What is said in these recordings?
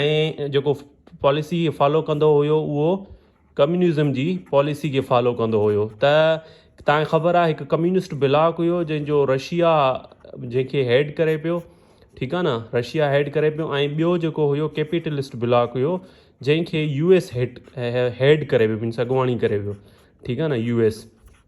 ۽ جيڪو policy follow ڪندو هيو اهو ڪميونزم جي پاليسي کي فالو ڪندو هيو ته تانکي خبر آهي هڪ ڪميونسٽ بلاڪ هيو جنهنجو رشيا جنهنکي هيڊ ڪري پيو ٺيڪ آهي نه رشيا هيڊ ڪري پيو ۽ ٻيو جيڪو هيو ڪيپيٽلسٽ بلاڪ هيو جنهنکي يو ايس هيٽ هيڊ ڪري پيو مينس اڳواڻي ڪري پيو ٺيڪ آهي نه يو ايس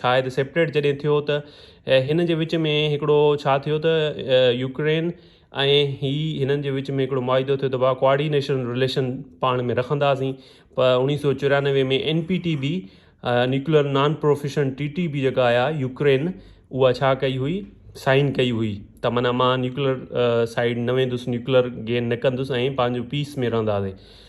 شايد سيپريٽ جڏهن ٿيو ته هن جي وچ ۾ هڪڙو ڇا ٿيو ته يوڪرين ۽ هي هنن جي وچ ۾ هڪڙو معاهدو ٿيو ته ڀا ڪوآرڊينيشن رليشن پاڻ ۾ رکنداسين پ اوڻيهه سو چوريانوي ۾ N P T B nuclear non profession T T B جيڪا آيا يوڪرين اها ڇا ڪئي هئي سائن ڪئي هئي ته معنيٰ مان نيوڪلر سائيڊ نه ويندس نيوڪلر گين نه ڪندس ۽ پنهنجو پيس ۾ رهنداسين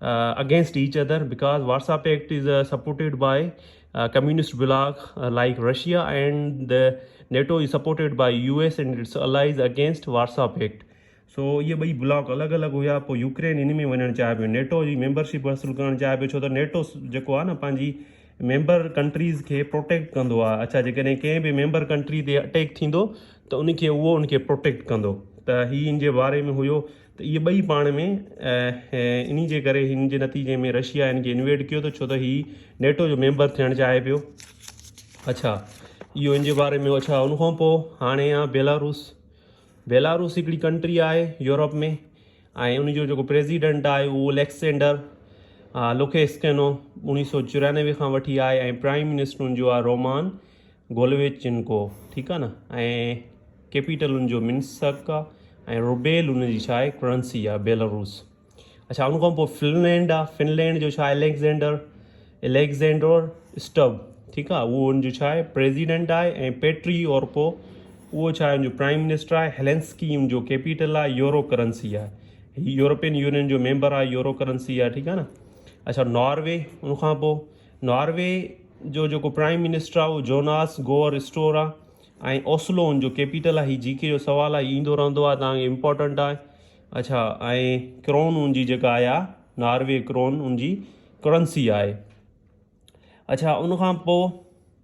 against each other because Warsaw Pact is supported by communist bloc like Russia and the NATO is supported by U S and its allies against Warsaw Pact so اهي ٻئي block الڳ الڳ هيا پوء يوڪرين ان ۾ وڃڻ چاهي پيو نيٽو جي ميمبرشپ حاصل ڪرڻ چاهي پيو ڇو ته نيٽو جيڪو آهي نه پنهنجي ميمبر ڪنٽريز کي پروٽيڪٽ ڪندو آهي اڇا جيڪڏهن ڪنهن به ميمبر ڪنٽري تي اٽيڪ ٿيندو ته ان کي اهو ان کي پروٽيڪٽ ڪندو ته هي ان جي باري ۾ هيو ته اهي ٻئي پاڻ ۾ انهي جي ڪري هن جي نتيجي ۾ رشيا هن کي انويڊ ڪيو ته ڇو ته هي نيٽو جو ميمبر ٿيڻ چاهي پيو اڇا اهو ان جي باري ۾ اڇا ان کان پوء هاڻي آ بيلاروس بيلاروس هڪڙي ڪنٽري آهي يورپ ۾ ۽ ان جو جيڪو پريزيڊنٽ آهي اهو اليڪسينڊر لوڪيسڪينو اڻيهه سو چورانوي کان وٺي آهي ۽ پرائم منسٽر ان جو آهي رومان گولويچنڪو ٺيڪ آ نه ۽ ڪيپيٽل ان جو منسڪ آ ۽ روبيل ان جي ڇا آھي ڪرنسي آ بيلاروس اڇا ان کان پوء فنلينڊ آ فنلينڊ جو ڇا اليگزينڊر اليگزينڊر اسٽب ٺيڪ آ اھو ان جو ڇا آھي پريزيڊنٽ آھي ۽ پيٽري اورپو اھو ڇا آھي ان جو پرائم منسٽر آھي ھيلنسڪي ان جو ڪيپيٽل آ يورو ڪرنسي آ يورپين يونين جو ميمبر آ يورو ڪرنسي آ ٺيڪ آ نه اڇا ناروي ان کان پوء ناروي جو جيڪو پرائيم منسٽر آ اهو جوناس گوئر اسٽور آ ۽ اوسلو ان جو ڪيپيٽل آ هي جي ڪي جو سوال آ ايندو رهندو آ تانگي امپورٽنٽ آ اڇا ۽ ڪرون ان جي جيڪا آيا ناروي ڪرون ان جي ڪرنسي آهي اڇا ان کان پو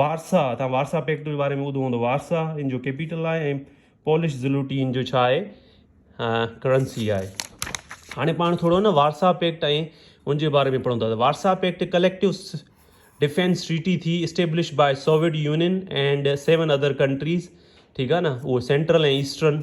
وارسا، توهان وارسا پيڪٽ جي باري ۾ ٻڌو هوندو، وارسا ان جو ڪيپيٽل آهي ۽ پولش زلوٽين جو ڇا آهي ڪرنسي آهي هاڻي پاڻ ٿورو نه وارسا پيڪٽ ۽ ان جي باري ۾ پڙهون ٿا Warsaw Pact collective defence treaty ٿي establish by Soviet Union and seven other countries ٺيڪ آهي نه اهو سينٽرل ۽ ايسٽرن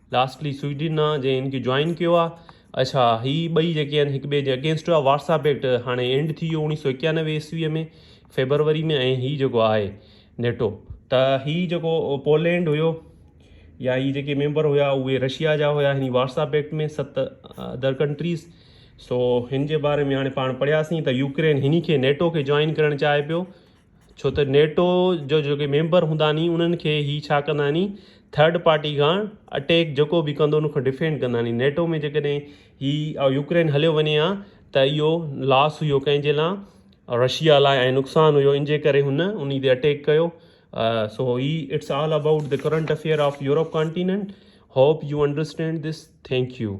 لاسٽلي سوئيڊن آ جنهن ان کي جوائن ڪيو آ اڇا هي ٻئي جيڪي آهن هڪ ٻئي جي اگينسٽ هئا واٽس اپ ايڪٽ هاڻي اينڊ ٿي ويو اوڻيهه سو اڪيانوي عيسوي ۾ فيبروري ۾ ۽ هي جيڪو آهي نيٽو ته هي جيڪو پولينڊ هيو يا هي جيڪي ميمبر هيا اهي رشيا جا هيا هن واٽس اپ ايڪٽ ۾ ست ادر ڪنٽريز سو هن جي باري ۾ هاڻي پاڻ پڙهياسين ته يوڪرين هن کي نيٽو کي جوائن ڪرڻ چاهي پيو ڇو ته نيٽو جو جيڪي ميمبر هوندا ني انهن کي هي ڇا ڪندا ني ٿرڊ پارٽي کان اٽيڪ جيڪو به ڪندو ان کان ڊفينڊ ڪندا ني نيٽو ۾ جيڪڏهن هي يوڪرين هليو وڃي ها ته اهو لاس هيو ڪنهن جي لا رشيا لاء ۽ نقصان هيو ان جي ڪري هن انهي تي اٽيڪ ڪيو سو هي it's all about the current affair of Europe continent hope you understand this thank U